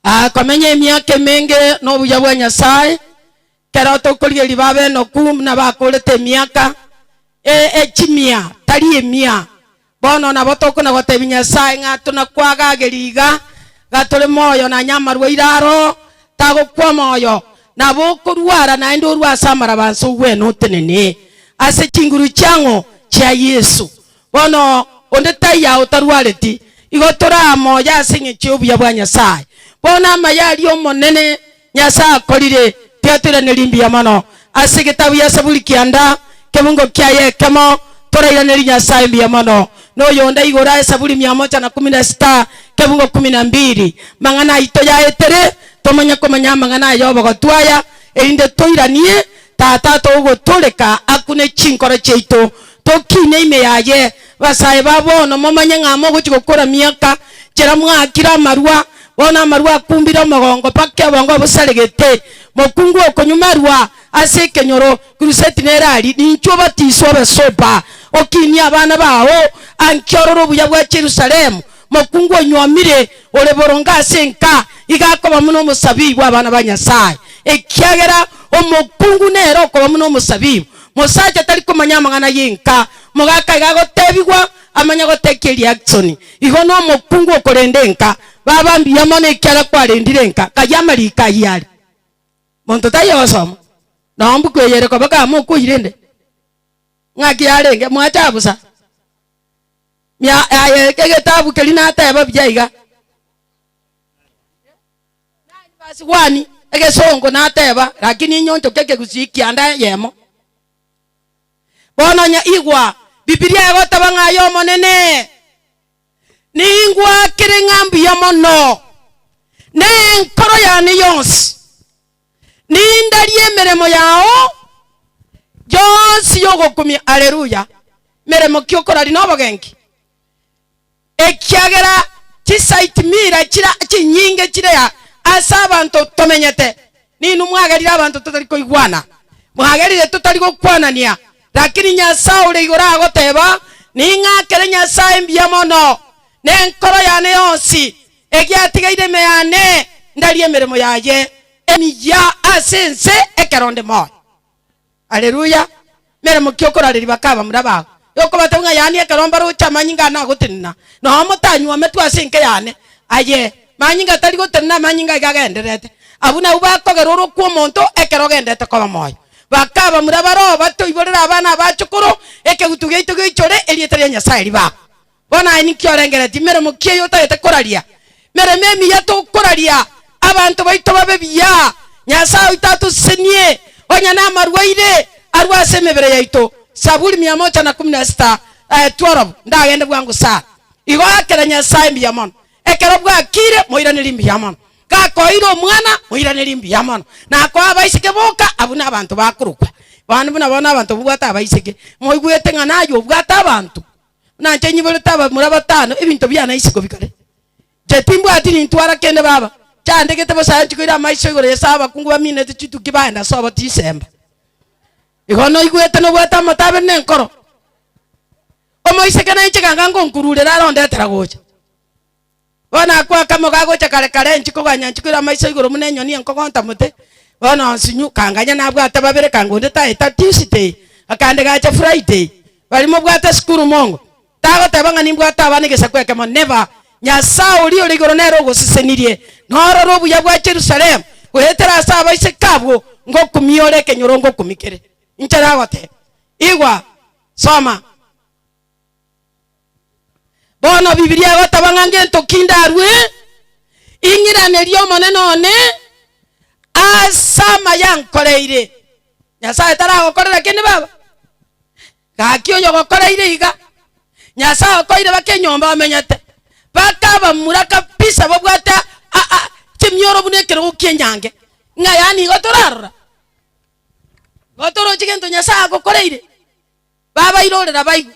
Akomenya emiaka emenge nobuya bwa Nyasae, ekero tokorigereria babe enoku buna bakoorete emiaka ee e chimia, tari emia. Bono nabo tokona gotebia Nyasae ng'a tonakwagageria iga, iga tore moyo nanye amarwa aire aro tagokwa moyo, nabo okorwara naende orwe ase amarabanso ogwene otenene ase chinguru chiang'o chia Yeso. Bono onde taiyo otarwareti, igo tore aa moyo ase engecho y'obuya bwa Nyasae. Bono amaya aria Omonene Nyasae akorire tiatoiranerie mbuya mono? Ase egetabu gia Saburi kianda, kebungo kiaye ekemo, torairanerie Nyasae mbuya mono. Noyo onde aigure aye Saburi mia moja na kumi na sita, kebungo kumi na mbiri. Mang'ana aito yaetere, tomonye komanya amang'ana aya obogotu aya, erinde toiranie Tata, togotoreka akune chinkoro chiaito, tokiine ime yaye. Basae ba bono, momanye ng'a mogochia gokora miaka, chera mwakire amarua, bono amarua akumbire omogongo mpaka obongo bosaregete. Mokungu okonywumerwa ase ekenyoro, kiruseti nerari, ninchwo obatiswe obe sober. Okiinie abana bao angio ororo obuya bwa Yerusalemu. Mokungu onyuomire ore boronge ase enka iga akoba buna omosabibu abana ba Nyasae, ekiagera omokungu nere okoba buna omosabibu. Mosacha tari komanya amang'ana y'enka, mogaka iga agotebigwa amanye gotekia eriaksoni. Igo nomokungu okorenda enka, baba mbuya mono ekiagera kwarendire enka. Ng'ai amariko ayio are? Monto taiyo ogosoma noo mbuku eye ere koba kama okoirende? Ng'aki yarenge? Mwachaa bosa. Yaya egetabu keria nateba buya iga, Nani basibwani egesongo nateba, Lakini inye onchokia ekegusii kianda eyemo. Bono onye igwa, Bibilia egoteba ng'a aye Omonene ningwakire ng'a mbuya mono, ne enkoro yane yonsi. Nindarie emeremo yao yonsi y'ogokumia, Aleluya, meremo ki okorari na obogenki? Ekiagera chisaiti mira chire chinyinge chire ase abanto tomenyete, ninwe mwagerire abanto totari koigwana, mwagerire totari gokwanania. Lakini Nyasae ore igoro agoteba, Ning'akere Nyasae mbuya mono, nenkoro yane yonsi Egiatigaire ime yane, ndarie emeremo yaye emiyia ase ense ekero onde moyo. Aleluya! Meremo ki okorareria bakabamura bao? Yokobatebia ng'a yaani ekero mbaroche amanyinga ane agotenena, na omotanywa ametwe ase enke yane? Aye, manyinga tari gotenena amanyinga iga agendererete. Abwo nabwo bakogera orwo kw'omonto ekero ogendete koba moyo. Bakabamura baroo batoiborere abana abachukuru, Ekegutu giaito gioichore, erieta ria Nyasae ribakwe. Bono aye ninki orengeretie meremo ki eye otagete koraria? Meremo emiya tokoraria, abanto baito babe buya, Nyasae oito atosesenie, onye namarwaire arue ase emebere yaito. Zaburi mia mocha na kumi na sita, 12 Ndagende bwango sana, igo aakera Nyasae mbuya mono, ekero bwakiire moiranerie mbuya mono, gakoeire omwana moiranerie mbuya mono, nakoa abaiseke boka abwo nabanto bakorokwa. Mambuna bono abanto mobwate abaiseke, moigwete ng'a naye obwate abanto. Nache nyiborete abamura batano ebinto biane ase isiko bikare. Inche timbwati nintwara kende baba, chandegete bosa aye nchikoire amaiso igoro y'ase abakungu baminete chituki baenda ase obote isemba. Igo noigwete nobwate amato abere nenkoro. Omoiseke nainche ganga ngonkururere are ondetera gocha. Bono ako akamo gagocha kare kare enchiko koganya enchiko ere amaiso igoro buna enyoni enkogonta mote. Bono onsinyu kanganya nabwate babere kanga onde taeta Tuesday akande gacha Friday. Bari mobwate sukuru mongo. Tagoteba ng'a nimbwate abana egesaku ekemo never. Nyasae oria ore igoro nere ogosesenirie norore obuya bwa Jerusalemu goetera ase abaiseke abwo ngokumia ore ekenyorongo okumikere. Inche nagoteba, Igwa, soma. Bono Bibilia egoteba ng'a ngento ki ndarue, ing'iranerie Omonene one ase amayankoreire. Nyasae taragokorera kende baba? Gaki oyogokoreire iga, Nyasae okoeire baka enyomba omenyete, baka abamura kabisa babwate chimioro buna ekerogo ki'enyange, ng'a yaani igo torarora? Igo toroche gento Nyasae agokoreire? babairorera baigwe.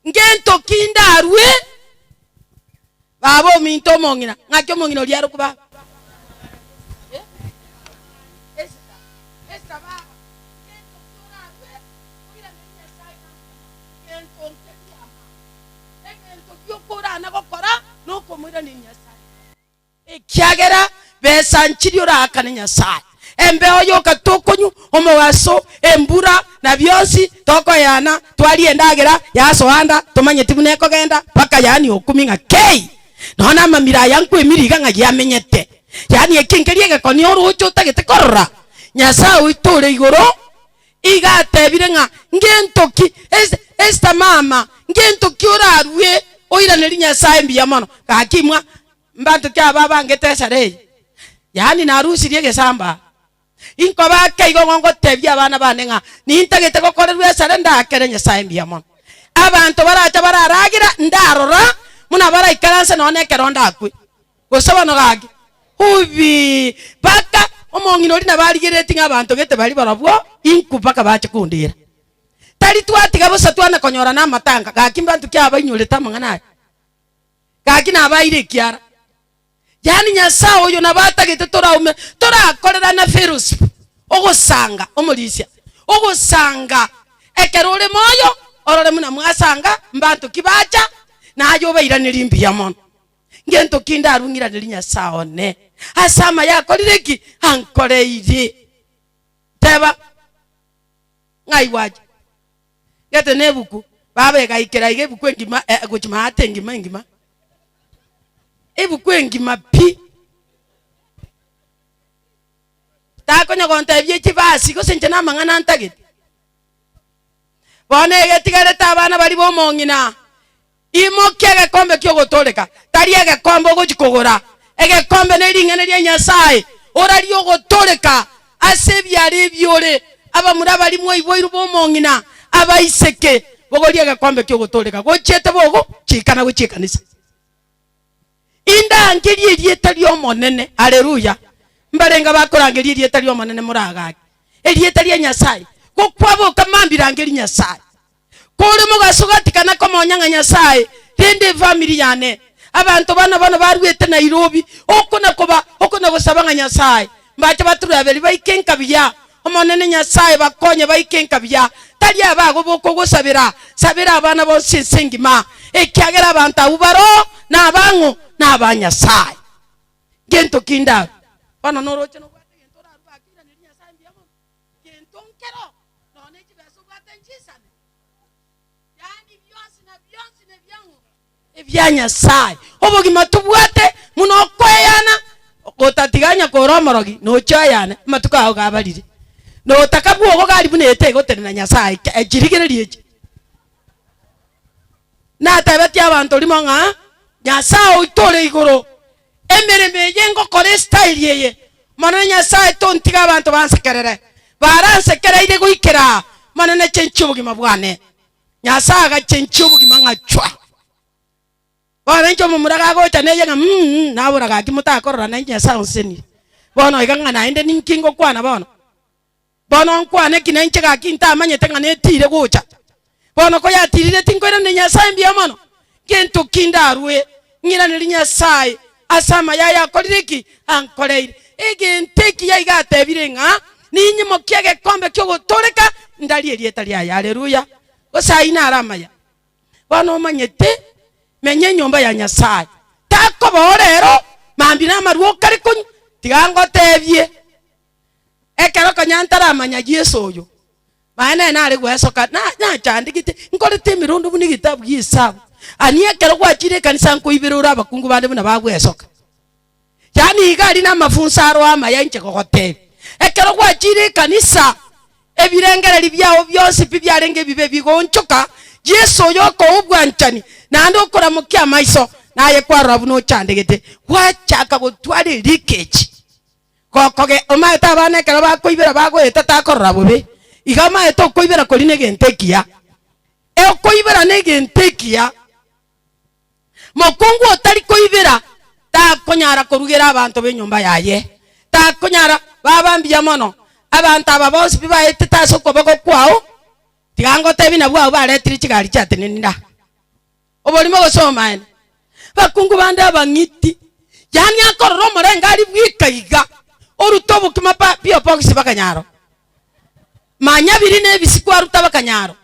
Ngento ki ndarue baba ominto omong'ina? Ng'aki omong'ina oria arokwe baba? Ekiagera besanchiri oraakane Nyasae. Embeo y'okato okonyu, omogaso, embura, na bionsi tokoeana, twarie endagera yasoa nda, tomanyeti buna ekogenda, mpaka yaani okumi ng'a kei! Nonya namamira aya nkwemire iga ng'a giamenyete. Yaani eke nkeria egekoni orooche otagete korora. Nyasae oito ore igoro iga atebire ng'a ngento ki, Esta, Esta mama, ngento ki orarue oiranerie Nyasae mbuya mono? Gaki imwa, Mbanto ki aba abangete esara eye? Yaani narusirie egesambaa? Inkobake igo ng'o ngoteebie abana bane ng'a nintagete gokorerwa esara ndaakere Nyasae mbuya mono? Abanto baracha bararagira ndarora buna baraikaranse nonya nekero ndakwe, gose bono gaki. Ubii! Mpaka omong'ina oria nabo arigereretie ng'a abanto gete bari barobwo inku mpaka bache kondira. Tari twatiga bosa twana konyora namatanga, gaki mbanto ki aba bainyorete amang'ana aya? Gaki nabaeire ekiara, yaani Nyasae oyo nabo atagete toraume torakorerane fellowship, ogosanga, omorisia, ogosanga. Ekero ore moyo, orore buna mwasanga, mbanto ki bacha, na aye obairanerie mbuya mono. Ngento ki ndarue ng'iranerie Nyasae one ase amaye akorire ki? ankoreire. Teba, ng'ai gwacha? Gete nebuku, baba egaikera iga ebuku engima eh, gochi maate engima engima. Ebuku engima pi. Takonya gontebia echibasi gose inche namang'ana ntagete. Bono egetigarete abana baria bomong'ina, Imokia egekombe ki'ogotooreka, tari egekombe ogochia kogora. Egekombe ne ring'ana ria Nyasae, orarie ogotooreka ase ebiara ebiore. Abamura abari mwaibwairwe b'omong'ina, abaiseke, bogorie egekombe ki'ogotooreka gochiete bogo chiika na gochia ekanisa. Indangerie erieta ri'Omonene. Aleluya! Mbarenge bakorangeria erieta ri'Omonene moragake erieta ria Nyasae, gokwa boka mambirangeri Nyasae. Kore mogaso gatikana komonya ng'a Nyasae rende efamiri yane. Abanto bana bono baruete Nairobi oko na koba oko na gosaba ng'a Nyasae mbache baturaberi baike nkabiya. Omonene Nyasae bakonye baike nkabiya. Tari aba agwo bokogosabera, sabera abana bonsi ense engima, ekiagera abanto abwo baro nabang'o na aba Nyasae. Gento ki ndaru? Bono noroche nobwate egento orarue ake iranerie Nyasae mbuya mono. Gento nkero, nonya nechibesa obwate nchisane, yaani bionsi na bionsi nebiang'u ebia Nyasaye. Obogima tobwate muna okoeyana, otatiganya kora omorogi nochia oyane amatuko ao gabarire, na otaka bwogo gari buna ete egotenena Nyasaye chirigererio echi. Natebetie abanto rimo ng'a Nyasaye oito ore igoro. Emeremo eye ngokora esitairi eye, Monene Nyasae, tontige abanto bansekerere, baransekereire goikera aa, mana nachenchie obogima bwane. Nyasae agachenchia obogima ng'achwa. Bono inche omomura gagocha neye ng'a mm-mm, nabora, Gaki motakorora nainche Nyasae onsenirie. Bono iga ng'a naende ninki ngokwana bono? Bono nkwane ki nainche gaki ntamanyete ng'a netiire gocha? Bono koyatiirire tinkoiraneria Nyasae mbuya mono? Gento ki ndarue ng'iranerie Nyasae ase amaya aye akorire ki? Ankoreire. Egento ekiya iga atebire ng'a ninyimokie egekombe ki'ogotooreka ndarie erieta riaye. Aleluya! Gose ayio naro amaya? Bono omanyete, menya enyomba ya Nyasae. Takoba orero, mambia namarwa okare konywa, tiga ngotebie. Ekero konya ntaramanya Yeso oyo, naye nere nare gwesoka, na- nachandegete, nkorete emerondo buna egetabu gia Esabu, ani ekero gwachire ekanisa nkoibera ore abakungu bande buna bagwesoka. Yaani iga aria namafunso aro amaya inche gogotebia. Ekero gwachire ekanisa, ebirengereri biago bionsi pi biarenge ebibe bigoonchoka, Yeso oyo okoa obwanchani, naende okoramokia amaiso, naye kwarora buna ochandegete, gwachaka gotwara erekechi. Gokoge omaete abana ekero bakoibera bagoeta takorora bobe, iga amaete okoibera kori negento ekiya. E okoibera negento ekiya, mokungu otari koibera takonyara korugera abanto b'enyomba yaye, takonyara baba mbuya mono. Abanto aba bonsi pi baetete ase okoboko kwao, tiga ngotebie nabwo abwo baretire chigari chiatenenire aa. Oborimo gose omoeene? Abakungu bande abang'iti, yaani akorora omorengo aria bweka iga, orute obokima pa biobogisi bakanyaro, manya biri nebisi kwaruta bakanyaro,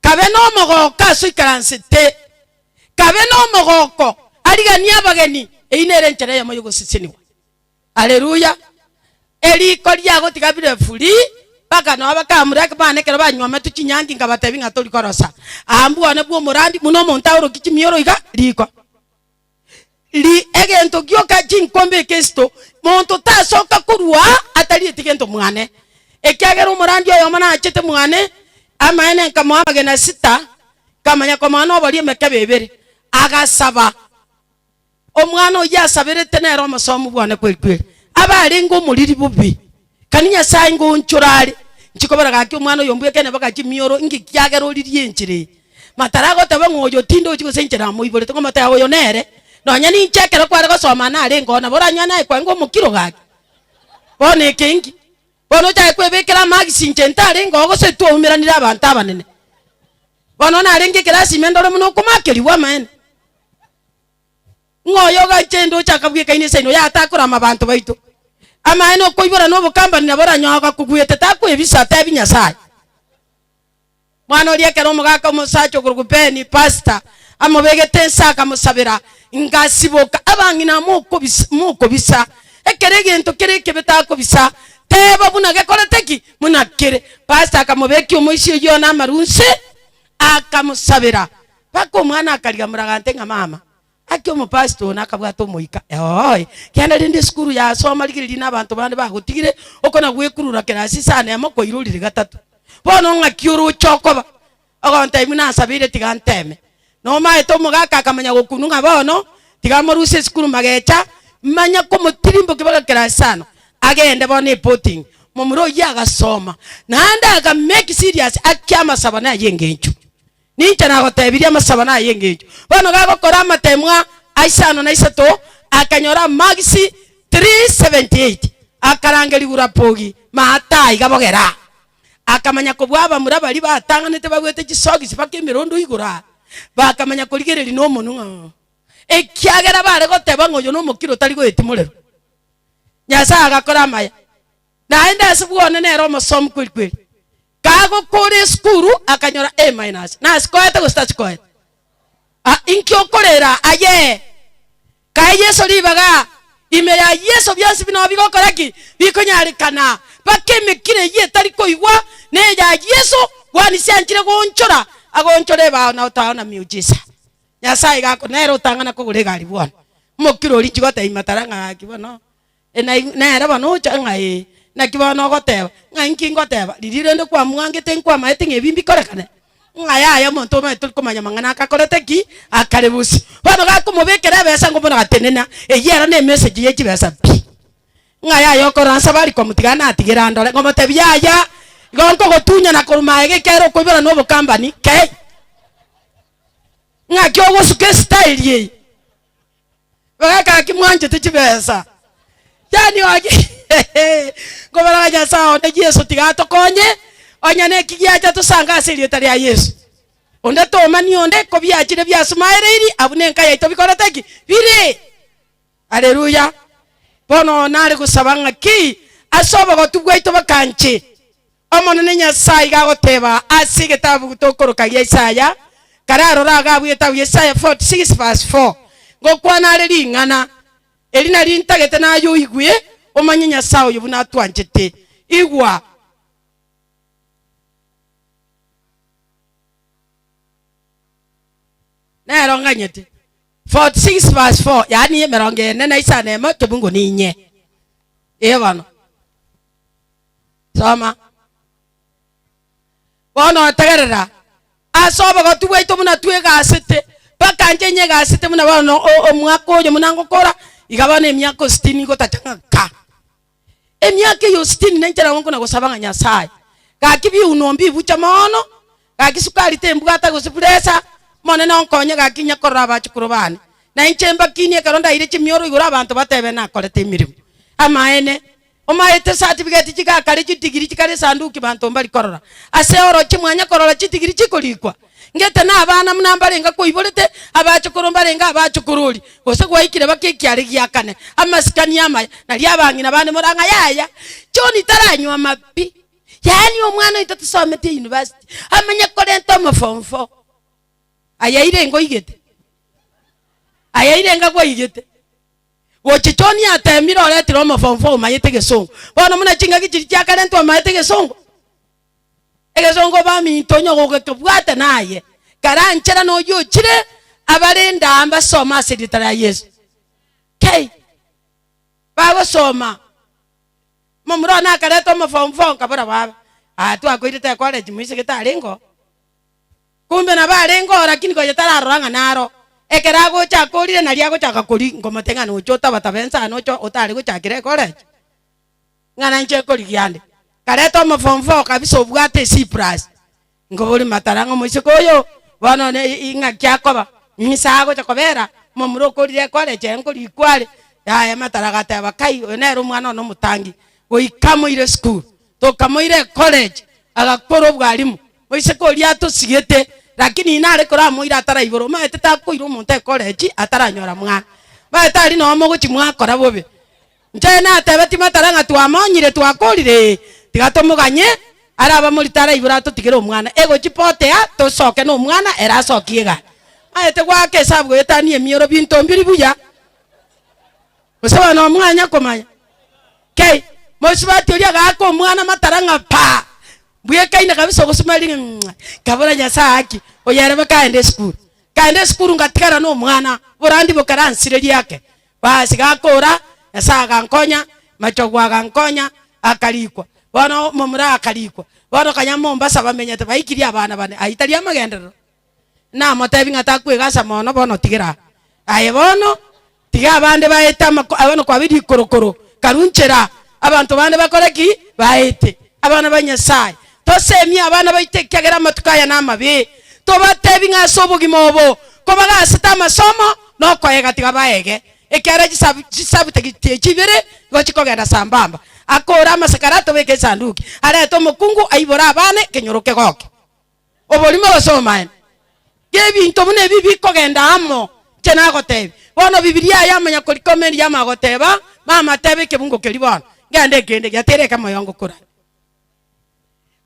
kabe nomogoko aso ikaransete, kabe nomogoko ariganie abageni, eyi nere enchera eyemo yogosesenigwa. Aleluya! Eriko riagotiga bire free mpaka nonya bakamura ekebanda ekero banywometwe chinyangi inga batebi ng'a tori korosa. Aa mbwane bwa omorandi buna omonto aoroki chimioro iga, riko. Ri egento gioka chinkombe ekesito, monto tasoka korwa aa atarieti gento mwane. Ekiagera omorandi oyomo naachete mwane, amaene nkamoa amagena sita, nkamanya komoa noboria emekebe ebere. Agasaba. Omwana oyio asaberete nere omosomu bwane kwerikwa eri, abe arenge omoriri bobe, kani Nyasae ingo onchore are. Nchikobera gaki omwana oyo mbweke neba ga chimioro, inga ekiagera oririe enchera eye. Matara agoteba ng'a oyo tindochi gose inche namoiborete, ng'omote aye oyo nere, nonya ninche ekero kware gosoma ane arenge oo nabo oranywa naye kwange omokiro gaki. Bono eke inki? Bono ochake kwebekera amagisi inche ntarenge oo gose twaumeranire abanto abanene. Bono narenge ekerasi ime ndore buna okomakerigwa amaene. ng'a oyo ogacha inde ochaka bweka ine ense ino yatakora amabanto baito. Amaene okoibora na obokambani nabo oranyoe agakogwete takwebisa atebi Nyasaye. Mwana oria ekero omogaka omosacha okorokwa Benny, pastor, amobegete ense akamosabera, ngasiboka. Abang'ina mokobisa mokobisa ekero egento kere ekebe takobisa teba buna gekorete ki? Buna kere. Pastor akamobekia omoisia oyio one amarunse akamosabera. Mpaka omwana akariamora gante ng'a mama Aki omopasiti one akabwata omoika eoe kianda rende esukuru yasoma rigireria na abanto bande bagotigire okona gwekurura kerasi sana emo koira orire gatato bono ng'aki oroche okoba ogontebia nasabeire tiga nteme nomaete omogaka akamanya gokunu ng'a bono tiga amoruse esukuru magecha manya komotirimbokia mpaka kerasi sana agende bono epotingi momura oyio agasoma naende aka make serious akia amasabo na aye engencho. Ninche nagotebirie amasabano aya engencho. Bono gagokora amatemwa aisano na isato, akanyora amagisi 378, akarangerigwa Rapogi, maata aiga bogera. Akamanya kobua abamura baria batang'anete babuete chisogisi baka emerondo igoro aa, bakamanya korigereria nomonwa oo, ekiagera bare goteba ng'a oyo nomokiro otari goetimorerwa. Nyasae agakora amaya, naende ase bwone nere omosomi kweri kweri. Kagokora esukuru akanyora A minus. Nasi koete gose tasi koete? A, inki okorera ayee? Kae Yeso ribaga. Ime ya Yeso bionsi bino bigokora ki? Bikonyarekana. Mpaka emekiro eyio etari koigwa neya Yeso, bwani sianchire goonchora, agoonchora ebao na otaao na miujiza. Nyasae iga akonere otang'ana kogora egari bwone. Omokiro oria inchigotebi matara ng'a gaki bono. Naigwe nere bono ocha ng'a ee. Naki bono ogoteba, ng'a inki ngoteba, riria rende kwamwangete nkwamaete ng'a ebi mbikorekane? Ng'a yaya omonto omanyete tori komanya amang'ana ake akorete ki? Akare bosio. Bono gakomobekera ebesa ngo bono gatenena, eyio ero ne emessage ye chibesa pi. Ng'a yaya okora nsa bari komotiga natigera ndore, ng'omotebi yaya igo nkogotunyana korwa magega ekiagera okoibora na obokambani kei. Ng'aki ogosuka esitaeri eye? Bagaka ki mwanchete chibesa? Yaani ogi Nkobarora Nyasae onde Yeso tiga atokonye onye neki giacha tosange ase erieta ria Yeso. Onde tomani onde ko biachire biasumaereiri abwo ne enka yaito bikorete ki? Biri. Haleluya. Bono nare gosaba ng'a ki ase obogotu bwaito bakanche Omonene Nyasae iga agoteeba ase egetabu tokoroka gia Isaya, kararore agwo abwo egetabu gia Isaya 46 verse 4, Ngokwana are ring'ana, eri nario intagete naye oigwe, omanye Nyasae oyo buna atwanchete. Igwa! Nero nganyete. 46 verse 4, yaani emerongo ene na isano emo, tobungo ninye. Ee bono. Soma. Bono otegerera, ase obogoti bwaito buna twegasete, mpaka inche nyegasete buna bono o- omwaka oyo buna ngokora, iga bono emiaka o sitini ngotacha ng'a nkaa. Emiaka eyo sitini nainche nabo nkona gosaba ng'a Nyasae, gaki biuno mbibuche mooono, Gaki sukari tembwate gose puresa, Omonene onkonye gaki inye korora abachukuru baane. Na inche mbakinie ekero ndaire chimioro igoro abanto batebe nakorete emeremo. Amaene, omaete sa tibigeti chigakare chidigiri chikare esanduki banto mbari korora. Ase orochie mwanya korora chidigiri chikorikwa. Ngete na abana buna mbarenge akoiborete, abachukuru mbarenge abachukuru oria, gose gwaikire bake ekiare giakane, amasikani amaya, nario abang'ina bane morang'aye aya, John taranywa amabi, Yaani omwana oito tosometi eyunivasiti amenye korenta omo form four ayaire ngoigete ayaire ngakwaigete gochia choni atemire oretire omo form four omayete egesongo bono muna chingaki chiria chiakarentwa omayete egesongo egesongo baminto onye ogokebwate naye karanchera noyio ochire abarende aa mbasome ase erieta ria yeso kei bagosoma. Omomura one akareta omofong'ufong'u kabora babe, Aa twakoirete ekore chimoise getarengeo. Kumbe nabo arengeo lakini konya tararora ng'a naro. Ekero agocha akorire nario agochaka koria nkomote ng'a nocha otaba taba ense aa nocha otare gochakera ekore echi. Ng'ana inche nkorigia nde. Kareta omofong'ufong'u kabisa obwate esipurasi. Nkobori matara ng'a omoiseke oyo bono one ing'aki akoba, ng'ise agocha kobera omomura okorire kware echaye nkorikwa are. Yaya matara agateba kai oyo nere omwana one omotangi, goika amoire esukuru, tokamoira ecollege agakora obwalimu, oiseke oria atosigete, rakini ina are koramoira ataraibora, omanyete takoira omonto ecollege ataranyora mwana, omanyete aria noo mogochi mwakora bobe. Inche natebe timatara ng'a twamonyire twakorire ee, tiga tomoganye, are abamori tara igoro atotigere omwana, egochi potea tosoke nomwana ere asokie egari. Maete goaka esabu goyetania emioro binto mbiri buya. Gose bono omwanya komanya. Kei, mosubati oria agaaka omwana matara ng'a paa, mbuya ekaina kabisa ogosumariri ng'a ng'ai, kabora Nyasaye haki, oyo ere bo kaende esukuru. Kaende esukuru ngatigara nomwana, oborandi bokaransire riake. Baasi gakoora, Nyasae agankonya, Machogu agankonya, akarikwa. Bono omomura akarikwa. Bono kanya Mombasa bamenyete baikirie abana bane, ayio tari amagenderero? Namotebi ng'a takwegasa mono bono tigera aa. Aye bono, tiga abande baete amako, bono kwabeire ikorokoro, karu nchera. Abanto bande bakore ki? Baete abana ba Nyasae. Tosemie abana baito ekiagera amatuko aya namabe. Tobatebi ng'a ase obogima obo kobagaasete amasomo na okoeega tiga baeege, ekiagera chisabu chisabutageti echi ibere nigo chikogenda sambamba. Akoore amasakara atobeke esanduki, arete omokungu aibore abana ekenyoro kegoke. oborimo gose omobaene, gebinto buna ebi bikogenda amo, inche nagoteebia. Bono Bibilia aya Amanyakorikeo Meriamu agoteeba, Mama teeba ekebungo keria bono, ngende nkende giatere eke moyo ngokurare.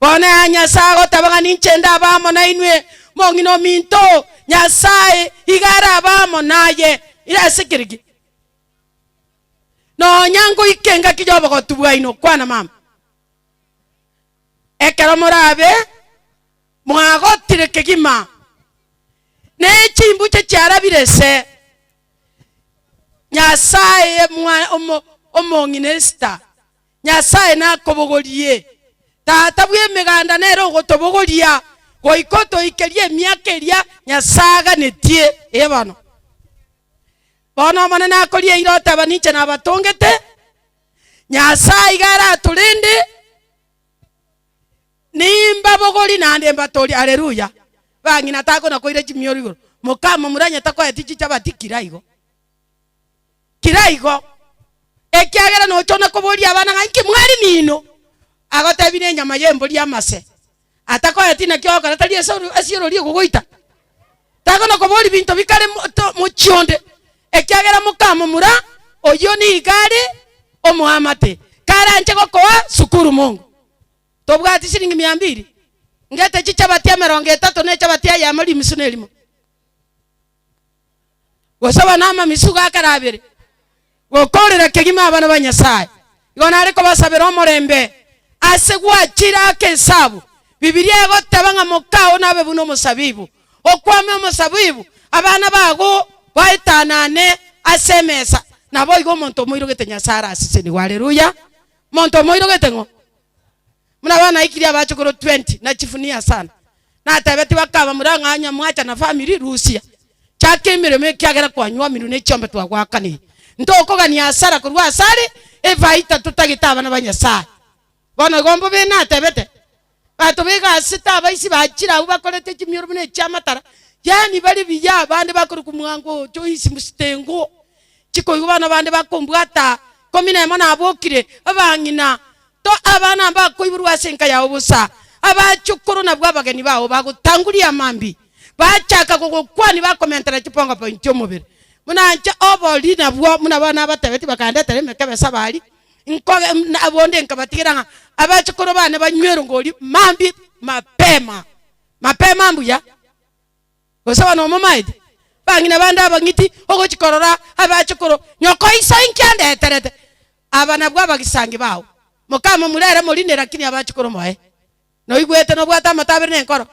Bono aya Nyasae agoteeba ng'a ninche ndabe amo nainwe, mong'ina ominto oo, Nyasae igo arabe amo naye ira ase keri ki. Nonya ngoika engaki y'obogotu bwaino, kwana mama. ekero morabe mwagotire kegima, na chimbuche chiarabire ase Nyasae Omwa- Omo- Omong'inesita, Nyasae nakobogorie. Tata bw'emeganda nere ogotobogoria, goika otoikerie emiaka eria Nyasae aganetie eye bono. Bono Omonene akoria eira oteba ninche nabatongete, Nyasae iga aratorende, nimbabogori naende mbatoorie. Aleluya! Bang'ina takona koira chimioro igoro, Mokama muranyete koetia chichabati kira igo, kira igo, ekiagera nochona koboria abana ng'a, Inki mwari nino? Agotebi nenyama y'embori y'amase. atakoeti inaki ogokora tari ase oro- ase orori ogogoita. Takona kobori binto bikare mo- to- mochie onde, ekiagera mokamomura oyio nigo are omoamate, karanche gokoa sukuru mongo. Tobwati siringi mia mbiri? Ngete chichabati emerongo etato nechabati ya yamo rimisu nerimo. Gosaba namamisugo akare abere, gokoorera kegima abana ba Nyasae. Igo nare kobasabera omorembe ase gwachire ake esabu. Bibilia egoteba ng'a mokao nabe buna omosabibu, okwame omosabibu, abana bago baetanane ase emesa. Naboigo omonto omoirogete Nyasae arasisenigwe. Haleluya! Omonto omoirogete ng'o? Buna banaikire abachokoro twenty na chief Niasana natebetie bakaba mura ng'a onye mwacha na family rusia chaka emeremo ekiagera kwanywamiru ne chiombe twagwakanire. Ntokogania hasara korwa asare efaita totagete abana ba Nyasaye. Bono igo mbobe natebete bato baiga ase tabaisi bachire abwo bakorete chimioro buna echia matara yaani bare buya abande bakorokwa mwango oo Joyce Mstengo chikoigwa bono abande bakombwata ikomi nemo nabokire abang'ina To abana mbakoiborwa ase enka yao bosa, abachukuru nabwo abageni bao bagotanguria amambi, bachaka gogokwania bakomentera chipongo pointu chi'omobere. Buna inche obori nabwo buna bono nabatebetie bakandetera emekebe ase abari, nkoge na bonde nkabatigera ng'a abachukuru bane banywerwe ngori mambi mapema mapema mbuya. gose abana bamomaete, bang'ina bande abang'iti, ogochi korora abachukuru, nyoko iso inki andeterete? Aba nabwo abagisangi bao. Mokama murere morine rakini abachukuru moe. Noigwete nobwate amato abere nenkoro,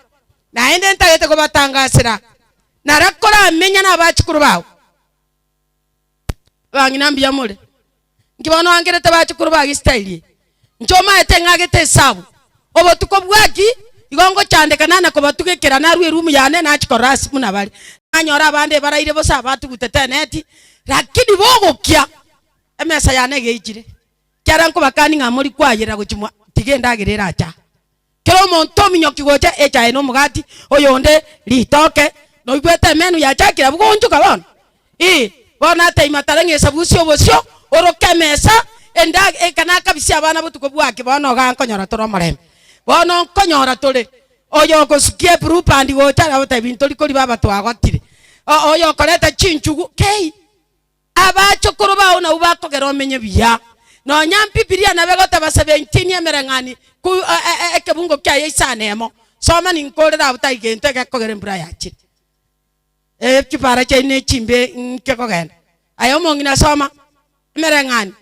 naende ntagete kobatangasera. Nara koramenya nabachukuru bao. Abang'ina mbuya more. Nki bono oangerete bachukuru ba Gesitai? Inche omaete ng'agete esabu. Obotuko bwaki igo ngochandeka nane kobatuga ekera narue erumu yane nachi korora ase buna bare. Nanyore abande baraire bosa batugutete eneti, lakini bogokia emesa yane egeichire. Ekiagera nkobakani ng'a mori kwayerera gochia mwa tiga endagera erache aa. Kera omonto ominyoki gocha echae na omogati, oyonde ritoke. Noigwete emenu yachakire abwo goonchoka bono? Ii, bono nataimu matare ng'a esabusia obosio, oroke emesa, enda, ekana akabisia abana botuko bwaki bono ogankonyora tore omorembe. Bono nkonyora tore, oyo ogosukia eburupandi gocha, agotebi ntori koriba abatwagotire, o, oyo okoreta chinchugu, kei. Abachokoro bao nabwo bakogera omenye buya. Nonya Mbibilia nabe goteba seventinyi emereng'ani ku ekebungo kia Isaya nemo. Soma ninkorere abwo tai gento egekogera embura yachire. Echipara chiaino echimbe nke kogenda. Aye omong'ina soma emereng'ani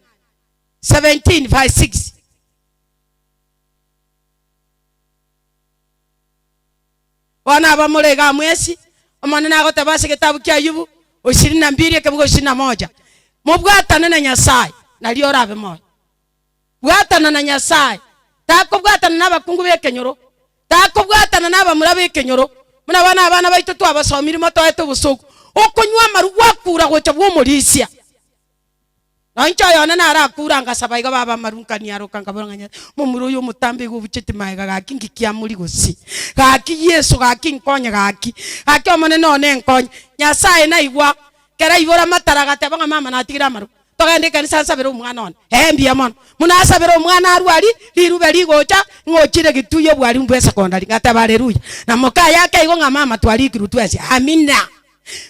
seventeen verse six. Bono abamore iga mwesi, Omonene agoteba ase egetabu kia Ayubu, ishirini na mbiri, ekebugo ishirini na moja, Mobwatane na Nyasae, nario orabe moyo. Bwatana na Nyasae. Takobwatana nabakungu b'ekenyoro, takobwatana nabamura b'ekenyoro. Buna bono abana baito twabasomiri motoete obosoku, okonywa amaru gwakura gocha bw'omorisia. Na inche oyone narakure angasaba iga baba amaru nkanyaroka nkabora ng'a Nyasae momura oyo omotambe iga obucheti magega gaki ngiki amori gose gaki Yeso gaki nkonye gaki gaki omonene one nkonye Nyasae naigwa kera aibora amataro agateba ng'a mama natigire amaru togende ekanisa nsabere omwana one eh mbuya mono buna asabera omwana arwe aria rirube rigocha ng'ochire gitui obwarimu bwa esecondary ngateba areruya na moka ayake igo ng'a mama twarikirwe twesie amina.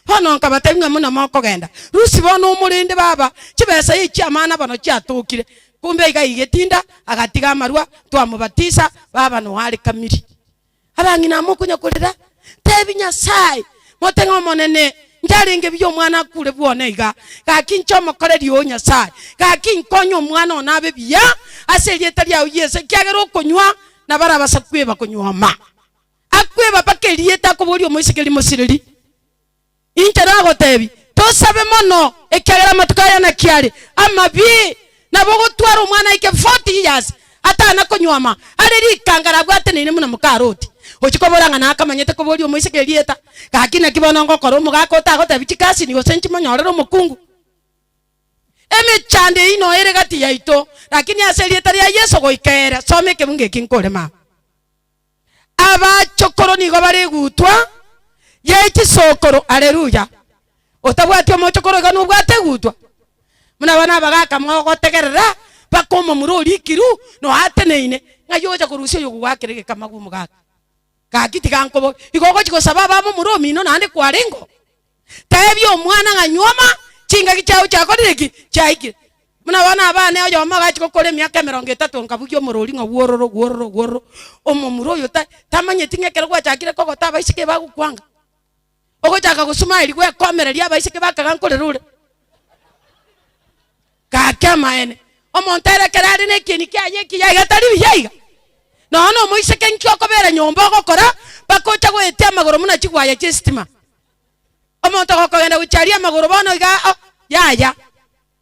Bono nkabatebia ng'a buna mokogenda, Lucy bono omorende baba chibesa ye chiamana bono chiatokire, kumbe iga igetinda, agatiga amarua, twamobatisa, baba noarekamiri. Abang'ina mokonya korera, tebi Nyasae, mote ng'a Omonene, njarenge buya omwana akure bwone iga, gaki inche omokoreri oo, Nyasae, gaki inkonye omwana one abe buya ase erieta riao Yeso, ekiagera okonywa na barabasa kweba konywa oma. Akweba mpaka erieta akoboria omoisikeri mosiriri. Inche nagotebi, Tosabe mono, ekiagera amatuko aya naki are amabe, nabo ogotwara omwana aike 40 years atana konywama, are rikangare abwateneine buna moka Loti. Ochia kobora ng'a nakamanyete koboria omoiseke erieta, gaki naki bono ngokora omogaka otagotebi chikasini gose nchimonyorere omokungu? Emechando eyio noere gati yaito, lakini ase erieta ria Yeso goika ere. Soma ekebungo eki nkore mama. Abachokoro nigo bare egutwa ye chisokoro. Aleluya! Otabwati omochokoro iga nobwate egutwa? Buna abana abagaka mogotegerera mpaka omomura orikiru noateneine ng'ai ogocha korusia oyo ogogoakera egekamagu omogaka. Gaki tiga nkoboge, igo ogochi gosaba abe amomura omino naende kwarengeo? Teebia omwana ng'a nyuoma, chingaki chiao chiakorire ki? Chiaikire. Buna bono abana oyomo agachia gokora emiaka emerongo etato nkabugia omorori ng'a wuororo, wuororo, wuororo, omomura oyo ta tamanyeti ng'a ekero gwachakire kogota abaiseke bagokwanga, ogochaka gosumaeri gwekomereria abaiseke bakaga nkorera ore. Gaki amaene. Omonto ere ekero are nekieni kiaye ekiya iga tari buya iga? Nonya nomoiseke inki okobera nyomba ogokora mpaka oche goetia amagoro buna chigwaya chiestima. Omonto gokogenda gochia aria amagoro bono iga o, yaya.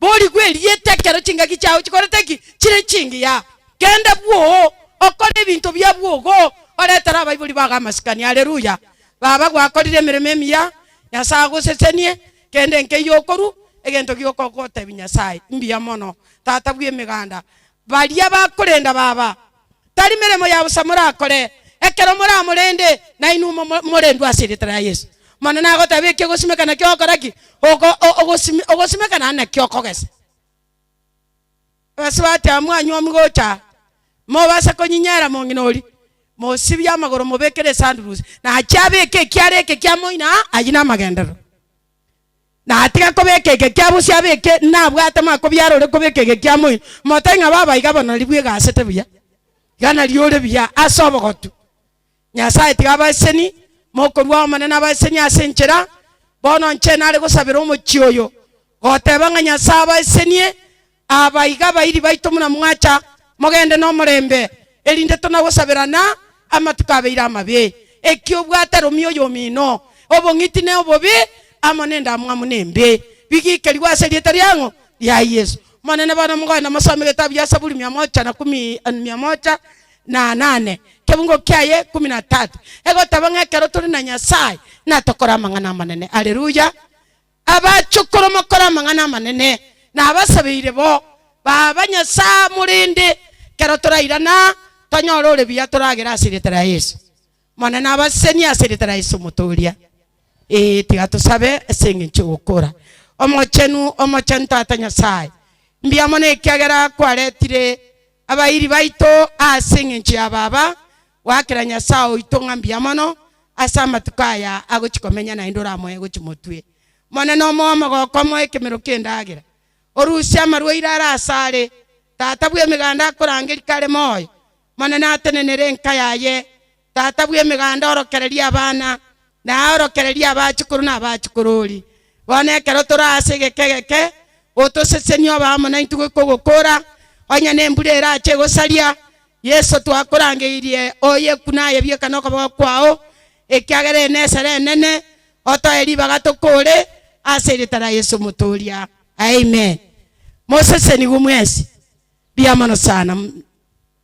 Borigwe erieta ekero chingaki chiao chikorete ki? Chire chingiya. Genda bwoo, okore ebinto bia bwogo, oretere abaibori bago amasikani. Aleluya! Baba, gwakorire emeremo emiya, Nyasae agosesenie, kende nkeiyo okorwa, egento gioka ogotebia, Nyasae, mbuya mono, Tata bw'emeganda, Baria bakorenda Baba, tari meremo ya bosa morakore, ekero moramorende, nainwe mo- morendwe ase erieta ria Yeso. Mono nagoteebie eki ogosimeka nakio ogokora ki? Ogo- o- ogosimi- ogosimeka naende nakio okogesa. Abasibwa ati, Amwanywa omigocha, mobasa konyinyera mong'ina oria, mosibie amagoro mobekere esandurusi, nachie abeke ekiara eke kia moino aa, ayio namagenderero. natiga kobeka egekia bosio abe eke nabwate ma kobiara ore kobeka egekia moino momote ng'a baba iga bono nari bwegasete buya iga nari ore buya ase obogotu nyasaye tiga abaseseni mokorua omonene abaseseni ase enchera bono inche nare gosabera omochie oyo goteba ng'a nyasaye abasesenie. Aa baiga, abairi baito, buna mwacha, mogende nomorembe, erinde tonagosaberana amatuko abeire amabe. Ekiya obwate romia oyomino, obong'iti ne obobe, amo nendamwamu nembe, bigiikerigwe as'erieta riang'o? Ria Yesu. Monene, bono mogoe namosome egetabu gia Saburi mia mocha na kumi, mia mocha na nane, kebungo kiaye kumi na tatu, egoteba ng'a ekero tore na Nyasaye natokoraa amang'ana amanene. Alleluia. Abachokoro mokore amang'ana amanene, na abasabeire bo baba Nyasae morende kero torairana tonyore ore buya toragere ase erieta ria Yeso. Monene abasesenie ase erieta ria Yeso omotooria. Ee, tiga tosabe ase engencho y'ogokora. Omochenu, omochenu Tata Nyasae, mbiamono ekiagera kwaretire abairi baito ase engencho ya Baba, Goakera Nyasae oito ng'a mbuya mono ase amatuko aya agochia komenya naende oramoe gochia motwe. Monene omoe omogoko omoe ekemero ki'endagera, orusie amarwaire are asare. Tata bw'emeganda akorangerie kare moyo. Monene atenenere enka yaye. Tata bw'emeganda orokererie abana. Naorokererie abachukuru na abachukurori, bono ekero tore ase egeka egeke, otosesenie obe amo naintwe goika ogokora, onye nembura erache egosaria. Yeso, twakorangeirie oye kune aye bieka nokoboko kwao, ekiagera eye nesera enene, otoe ribaga tokore, ase erita ria Yeso Omotooria. Amen. Mosesenigwe mwensi. Riamono sana.